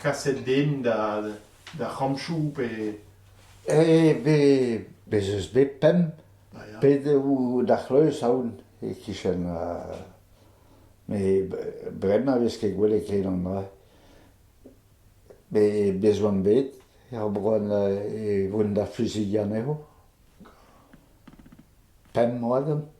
Kaset den d'ar c'hamchoù pe... Eh bet bez eus bet pemp pedev d'ar c'hleuz aon e-kichen met bremañ 'vez ket gwelet ken an dra met bez 'oant bet er bloaz e vont da fluzidiñ anezho pemp moa deomp.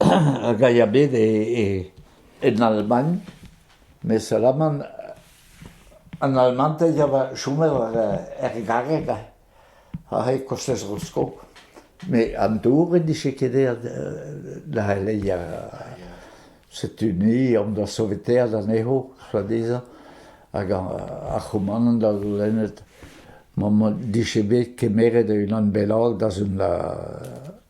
hag a ya bet en Almagn, mes alaman an almanted a oa chomet er garreg a c'hell kostez Roskov, mes an dour en dije ket aet da c'heleier Setu-ni omp da sovetaat anezho, tra dezhañ, hag ar c'houmanant da goulennet ma 'dije bet kemeret unan bennak da zont da...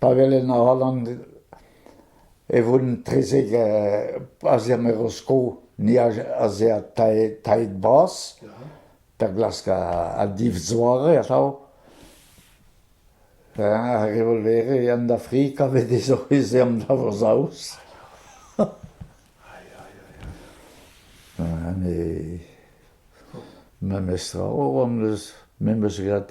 Pa welen a-walc'h e voen trezek a-ziàr ma eroskop, ni a-ze'h tailhed bras da glask a-div zoare atav. Ar revolvere eo an Afrika a vez dezho ez eo an dañvosaoz. Memes tra, o, am eus graet.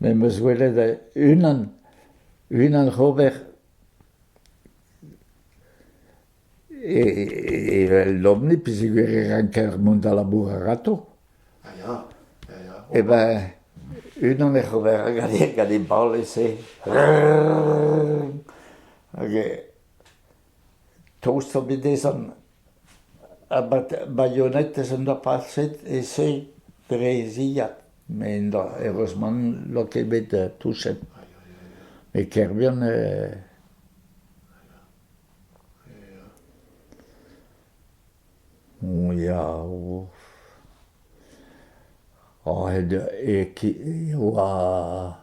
Me 'meus gwelet unan, unan ober evel lomni peogwir e ranker mont da labourat a-rato. Ya, ya, ya, ya. E ben, unan ec'h ober gant e bal ese. Hag Tost zo bet dezhan ha baionetez en doa paset e-se dre e zilhad met heureusement n'oa ket bet touchet. Met Kerbihan eo ya e oa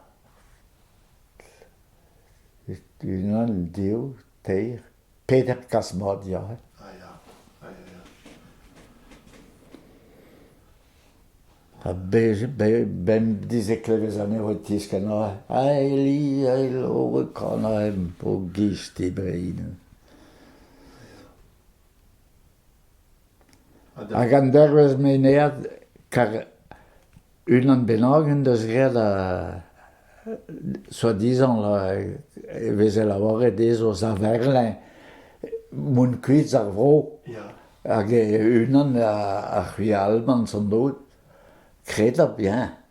unan dezho. teir, peder kazh-mat ya. Ah ya, ah ya ya. Ha be- be- bemdizeklevezh anezho e tiskenn aze. Aeli, aelo, kanaem, o giz dibrin. Hag an dervezh meinead, kar unan bennak en deus graet ha soi-disant e veze lavaret dezho saverlin mont kuit ar vro. Hag unan a c'hwi Alban, sans doute. Kred ha bien.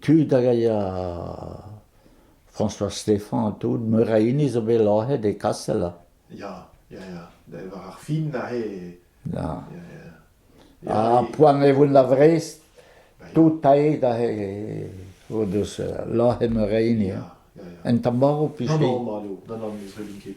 tud hag a ya François Stéphan ha tout, meur a hini zo bet lazhet e Kastel. Ya, ya, ya, war ar fin aze. Ya. Ha poan e voen da Vrest, tout aet aze o deus lazhet meur a hini. En tamaro pichei. Non, non, non, non, non, ne zreblin ket.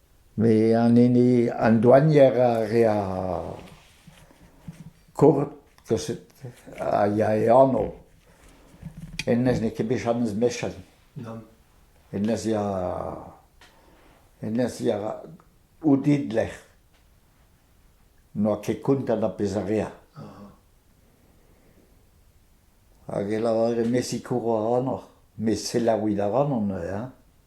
Met an hini, an douanier a rea kurt kaset a ya e ano. Hennez n'eo ket bet Janez Mechen. Nann. Hennez ya, hennez ya Oudid lec'h. N'oa ket kontant ar pezh a rea. Hag e lavare, me sikour a ranoc'h. Met selaouit a ranon, eh?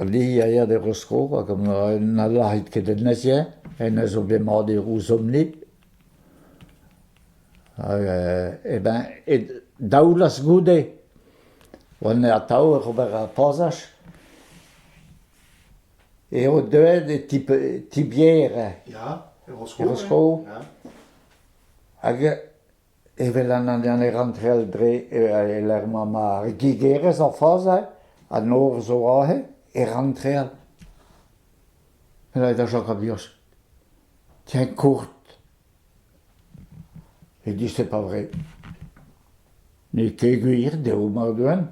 Lee a ya d'e zro hag na lârit ket en nerzh-eñ, hennezh zo bet mat e rouzomp-ni. Hag eh ben e daolas goude. Oan atav oc'h ober ar pazaj. Eo deuet e ti Bier. Ya, e Roskov. Hag Evel an Indianed ranntrel dre e-lec'h ma gigerez o fazi, an nor zo aze, e ranntrel. Ret da chom a-vios. Tiens, kourt. E di c'est pas vrai. N'eo ket gwir dezho mardouen.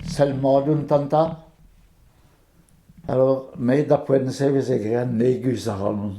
Sell mat un tanta. Alors, me da poent-se e veze graet negus ac'hanon.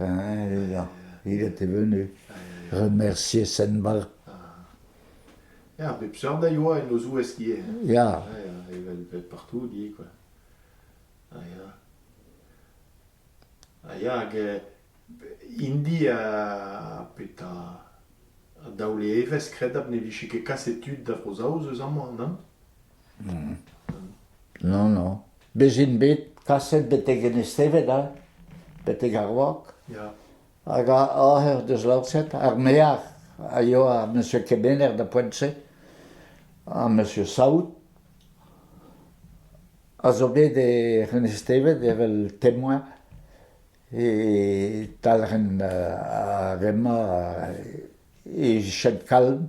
Ya, il était venu remercier Senval. Ya, pep seurt a ioa en o zouez qui est. Ya. Ya, evel evel partout, di, quoi. Ha ya. Ha ya, hag indi a petra a daole evez, kredabl ne vije ket kaset tud da Vro-Zaoz eus amañ, nann? Non, non. Bez' int bet kaset betek Enez-Tevet hein, betek ar wok. Hag oc'h ec'h deus lañset ar mear a yoa ar Monsieur Kemener da Poent-se, ha Monsieur Saout, a zo bet e Enez-Tevet evel temoin e talc'hen ar re-mañ e Chêne-Kalm.